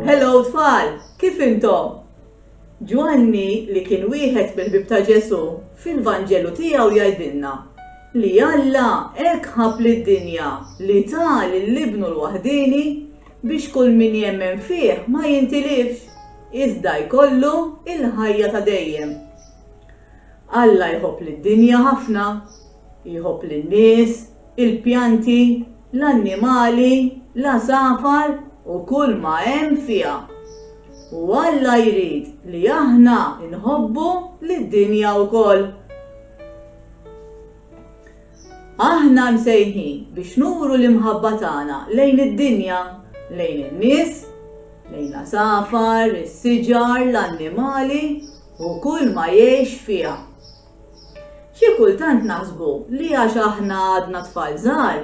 Hello tfal, kif intom? Ġwanni li kien wieħed mill-ħbieb ta' Ġesù fil-Vanġelu tiegħu jgħidilna li Alla hekk ħabb lid-dinja li ta lil Ibnu l-waħdieni biex kull min jemmen fih ma jintilifx, iżda jkollu l-ħajja ta' dejjem. Alla jħobb lid-dinja ħafna. Jħobb lin-nies, il-pjanti, l-annimali, l-għasafar u kull ma hemm fiha. U Alla jrid li aħna nħobbu lid-dinja wkoll. Aħna msejħin biex nuru l-imħabba tagħna lejn id-dinja, lejn in-nies, lejn l-għasafar, is-siġar, l-annimali u kull ma jgħix fiha. Xi kultant naħsbu li għax aħna għadna tfal żgħar,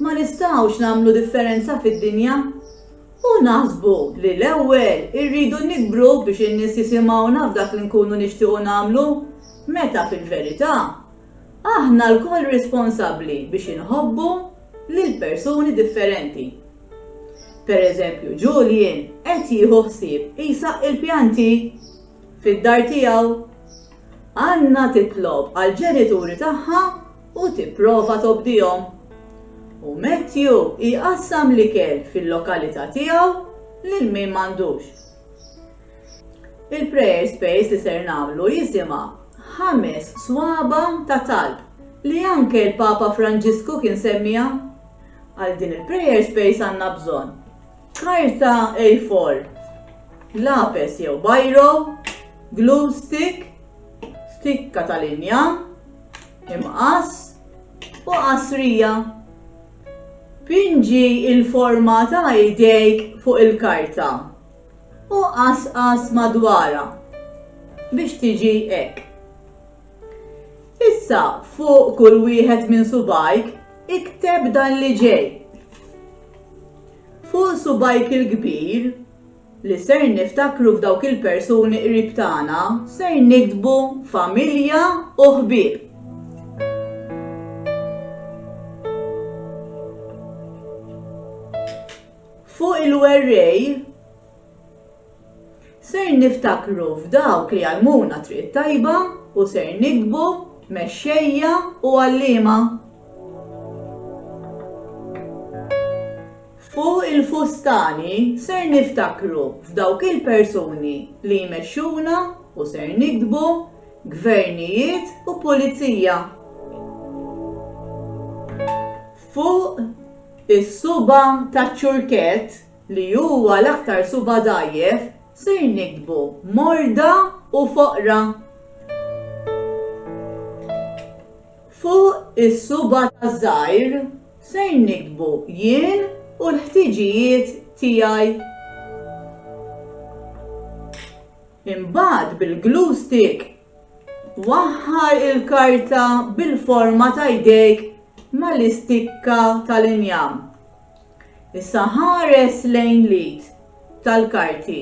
ma nistgħux nagħmlu differenza fid-dinja. U naħsbu li l-ewwel irridu nikbru biex in-nies jisimgħuna f'dak li nkunu nixtiequ nagħmlu, meta fil-verità, aħna lkoll responsabbli biex inħobbu lil persuni differenti. Pereżempju, Julian qed jieħu ħsieb isaqqi l-pjanti fid-dar tiegħu. Anna titlob għall-ġenituri tagħha u tipprova tobdihom. U Matthew jqassam l-ikel fil-lokalità tiegħu lil min m'għandux. Il-prayer space li ser nagħmlu jisimha ħames swaba ta' talb li anke l-Papa Franġisku kien semmiha. Għal din il-prayer space għandna bżonn Karta A4, lapes jew biro, glue stick, stikka ta' linja, imqass u qasrija. Pinġi il-forma ta' idejk fuq il-karta u qasqas madwara biex tiġi hekk. Issa fuq kull wieħed minn subajk ikteb dan li ġej. Fuq subgħajk il-kbir, li ser niftakru f'dawk il-persuni qrib tagħna, ser niktbu familja u ħbieb. Fuq il-werrej, Ser niftakru f'dawk li għallmuna t-triq it-tajba u ser niktbu mexxejja u għalliema. Fuq il-fustani ser niftakru f'dawk il-persuni li jmexxuna u ser niktbu gvernijiet u pulizija. Fuq is-subgħa taċ-ċurkett li huwa l-aktar suba' dgħajjef, ser niktbu morda u foqra. Fuq is-suba' żgħir ser niktbu jien u l-ħtiġijiet tiegħi. Imbagħad bil-glue stick waħħal il-karta bil-forma ta' jdejk mal-istikka tal-injam. Issa ħares lejn l-id tal-karti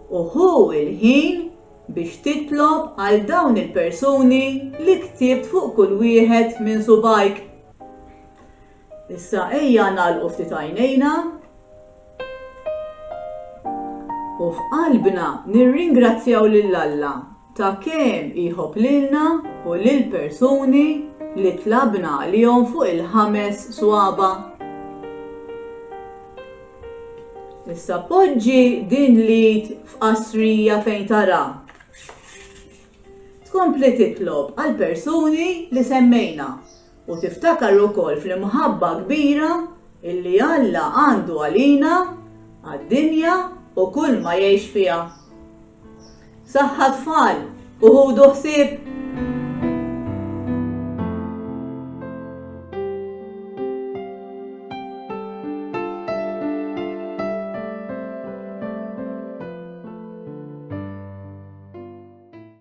u ħu l-ħin biex titlob għal dawn il-persuni li ktibt fuq kull wieħed minn subgħajk. Issa ejja nagħlqu ftit għajnejna u f'qalbna nirringrazzjaw lil Alla ta' kemm iħobb lilna u lill-persuni li tlabna għalihom fuq il-ħames swaba'. Issa poġġi din l-id f'qasrija fejn tara. Tkompli titlob għall-persuni li semmejna. U tiftakar ukoll fl-imħabba kbira illi Alla għandu għalina, għad-dinja u kull ma jgħix fiha. Saħħa tfal u ħudu ħsieb!